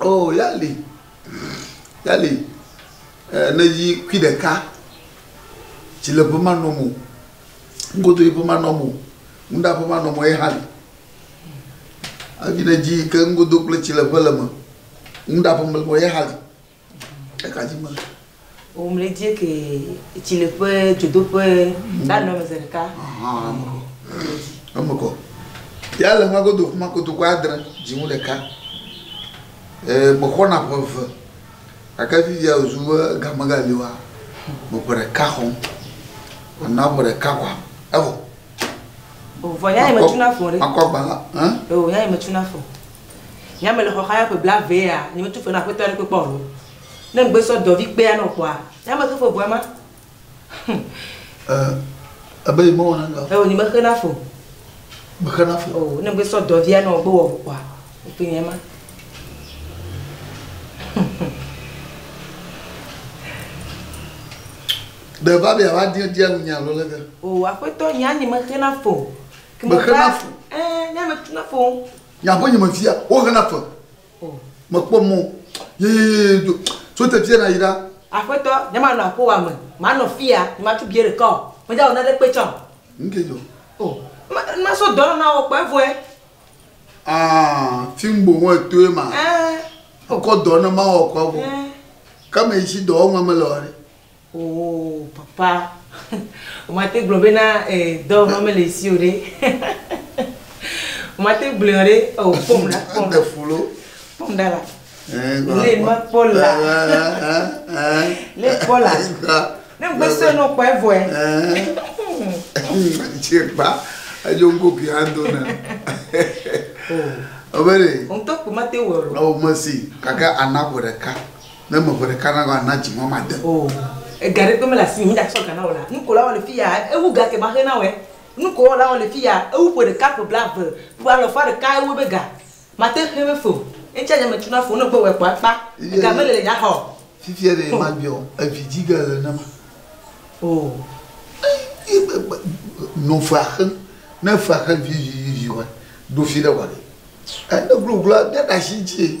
Oo, ya li, ya li. Eee ne dzi kui ɖeka, tsi le ƒe ma nɔm o, ŋugodo yi ƒe ma nɔm o, ŋuɖa ƒe ma nɔm o ye hã li. Eyi ne dzi ke ŋugodo kple tsi le ƒe le me, ŋuɖa ƒe me le me ye hã li. Ekadzi mele. O mle dzie ke etsi le ƒe dzodoƒe la nɔ me ze ɖeka. Ahan emekɔ. Emekɔ. Ya le ƒe godo kuma koto ko adre dziŋu ɖeka. E mexɔna ƒe eve. Gake fifia ozu be ga megali wa me ƒe ɖeka xɔm. Ana ƒe ɖeka kwa evɔ. O vɔ ya me tuna fɔ ɖe. Akɔ gbala. Hein? O ya me tuna fɔ. Nye ame le xɔxa ya ƒe blave ya, nye me tu fe na aƒetɔ aɖe kpe kpɔ alo. Ne ŋgbe sɔ dɔ vi kpea nɔ kpɔa, nye ame xe fe ʋua ma. Ɛ, ebe yi me wɔna nɔ. Eo, nye me xe na fe o. Me xe na fe. O, ne ŋgbe sɔ dɔ via nɔ gbe wɔ ʋu kpɔa, ekpe nye ma. Ɖe va be ya va dia dia nu nye alo lege? O, aƒetɔ, nye anye me xe na fe o. Me xe na fe. Ɛ, nye ame tu na fe o. Nye aƒe nye me fia, wohena fe. Mekpɔ mɔ yeyeye do tso teƒea na yi ɖa. Aƒetɔ, nye manɔ aƒewa me, manɔ fia, nye matu bie ɖeka o, meda wɔ nane kpe tsã o. Nu ke dzɔ? O, ne masɔ dɔ na wò kpɔ evɔe. Ah, fim bo ho etoe ma. Eh. Kɔ dɔ ne mawɔ kɔ evɔ. Eh. Ke me yi si dɔwɔnua me le wɔ ɖe. Oo papa womate gblɔ bena ee dɔwɔnɔ mele esi o ɖe womate gblɔe o ɖe oo kpɔm ɖa kpɔm ɖa kpɔm ɖa la le mekpɔ la le kpɔ la ne ŋgbe sɔe nɔ kpɔ evɔe tsekpa edzo ŋgo ke ando na o bele ŋutɔ kpɔ mate wɔ o mesi kaka ana ƒo ɖeka Ne me ŋe ɖeka na la, na dzi ŋɔ made o. Ega ɖe kpe mele asinye me dza sɔ ga na wò la, nuko la wɔ le fiya ewu ga ke maxe na wòe. Nuko wɔ la wɔ le fiya ewu ƒe ɖeka ƒe blave ƒe alɔfa ɖeka ewu ebe ga. Mate xe me fe o. Eŋtsia nye me tuna fe o, ne gbe wɔe kpɔ akpa. Ega mele le nye axa o. Fifia ɖe ma gbe ɔ, evi dzi ge le ne ma. Oo. Eye be gbe nɔ fe axe, ne fe axe vivi vivi wɔe, ɖo fi ɖe wɔe. Ene glo glo a bia ɖe asi dzi.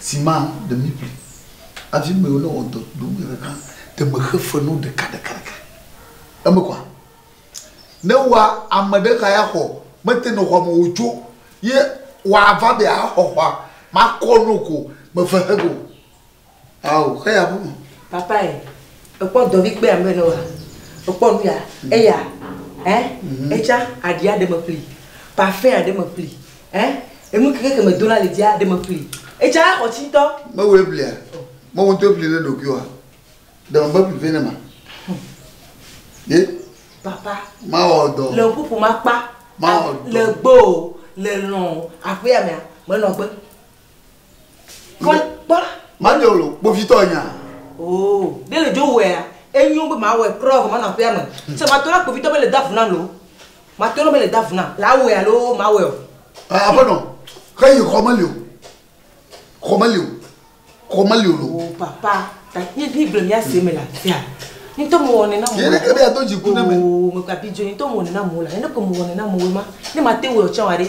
Sima ɖe mi ƒli avi me wole wɔ dɔ do me ɖeka ɖe me xe fe no ɖeka ɖeka ɖeka eme kwa ne wa ame ɖe ka ya xɔ me te no xɔ me wo tso ye wa va be a xɔ xɔ ma kɔ no ko me fe xe go Ao, xe ya ƒu. Papa e, ekpɔ dɔvi kpe ambe ne wa, ekpɔ nu ya, mm. eya, ɛ, eh? mm-hmm. etsa aɖi aɖe me pli, parfum aɖe me pli, ɛ, eh? enu keke ke me do la le dzi aɖe me pli, etsa axɔ tsi ŋutɔ. Mewo eblia, mewo ŋutɔ ebli le ɖokui wa, dɔn be pli vɛ ne ma. Ye. Papa. Ma wɔ dɔ. Le ƒuƒu ma kpa. Ma wɔ dɔ. Le gbɔ o, le lɔn o, aƒea mea, menɔ gbe. Kpɔkpɔ. Made wò kpovitɔ nya. Oo, ɖe le dzo wɔea, enyo be mawɔe kura vɔ manɔ aƒea me. Sɛ matɔ na kpovitɔ be le do avu nam loo, matɔ na be le do avu nam, le awɔe alo mawɔe o. Aƒenɔ, xe yi xɔ meli o. Xɔ meli o. Xɔ meli o loo. Oo, papa, ta nye mi gblɔ mia se me le afia. Ŋutɔ me wɔnɛ na mo. Yɛ ne ke be ya do dziku ne me. Oo, me gba bi dzo ŋutɔ me wɔnɛ na mo la. Yɛ ne ke me wɔnɛ na mo ma, ne mate wɔe o tsɛ wa ɖe,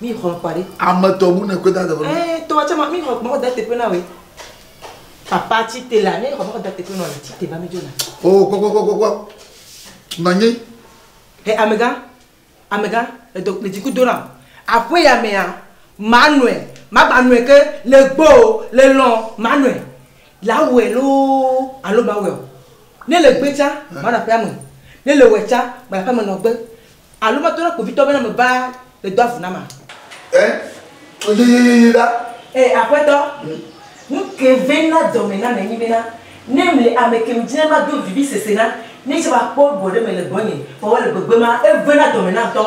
Mi xɔn kpa ɖi. Ame tɔ ŋu ne kpe da teƒe. Ee tɔ tse ma mi xɔn kpa da teƒe na we. Papa tsi te la ne xɔn kpa da teƒe na le tsi te ba mi jo na. O kpɔ kpɔ kpɔ kpɔ. Nanyi. He amega amega edo le dziku do na. Aƒe ya mea ma nɔe ma gba nɔe ke le gbɔ o le lɔ ma nɔe la wɛ lo alo ma wɛ o ne le gbe tsa ma na ƒe ame ne le wɛ tsa ma ƒe ame nɔ gbe. Alo meto na kpovitɔ be ne meva le do avu na ma. Ẽ, tso yeyeyeye ɖa. Ee, Aƒetɔ. Nu ke vɛn na dɔme na me nyi bena ne mle ame ke ŋdi ne mado vivi sese na, ne tsɛ va kpɔ egbɔ ɖe me le gbɔnye vɔ wɔ le gbegbe ma, evɛn na dɔme na ŋtɔ.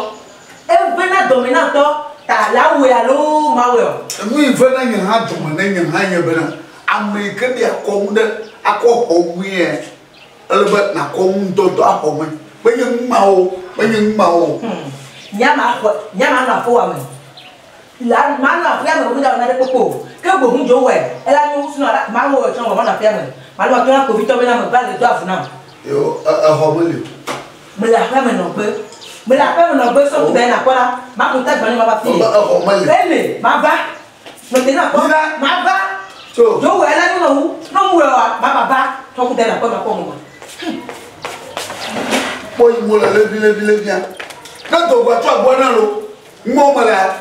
Evɛn na dɔme na ŋtɔ ta le awɔe alo mawɔe ɔ? Enu yi vɛn na nye hã dɔme ne nye hã nye bena ame yi ke ɖi akɔnu ɖe akɔ xɔ ŋuie. Ele be nàkɔ ŋudɔ dɔ axɔ me. Menye numa o, menye numa o. Hmm. Nya ma xɔ, nya ma nɔ aƒewa me. La, ma nɔ aƒea me wòda wɔ nane kpokpo. Ke bo ŋu dzo wɛ. Ela nyo wusu nɔ la, ma wɔ wɔ tsɔ wɔ ma nɔ aƒea me. Ma nɔ tɔ na kpovitɔ be na me va le do avu nam. Yo, exɔ me li. Mele aƒea me nɔ gbe. Mele aƒea me nɔ gbe sɔ kuda yina kpɔ la, ma ko ta gbani ma va fi. Exɔ me li. Ele, ma va. Mete na kpɔ. Yila. Maba. Tso. Do wɛ lɛ nuna wu. N'o mu wɛ wa, ba baba. Tɔku dɛ na kpɔ ma kpɔ mu ma. Kpɔ yi mo le levi levi levia. Ne do gba tso agbo na lo. Mo me la.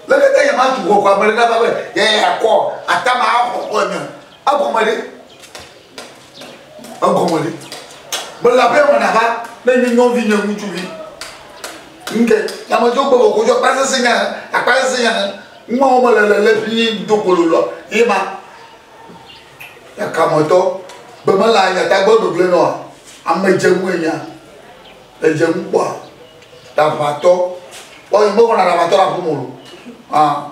Lekete yɛ ma tu kɔ kɔ amele na ba be yɛ yɛ kɔ atama akɔ kɔ nya. Agɔ me de. egɔme ɖi mele abe ame ɖeka ne nye nyɔvi nye ŋutsuvi nke yamedzɔ gbe bɔ kodzɔ akpa sese nya akpa sese nya ŋua wɔme le le le fi nye do kolo lɔ ye ma yakametɔ gbe mele anya ta gbe gbegble nɔa ame dze ŋu enya le dze ŋu kpɔa ɖaʋatɔ ɔ yi me wɔna ɖaʋatɔ ɖe aƒeme o ah.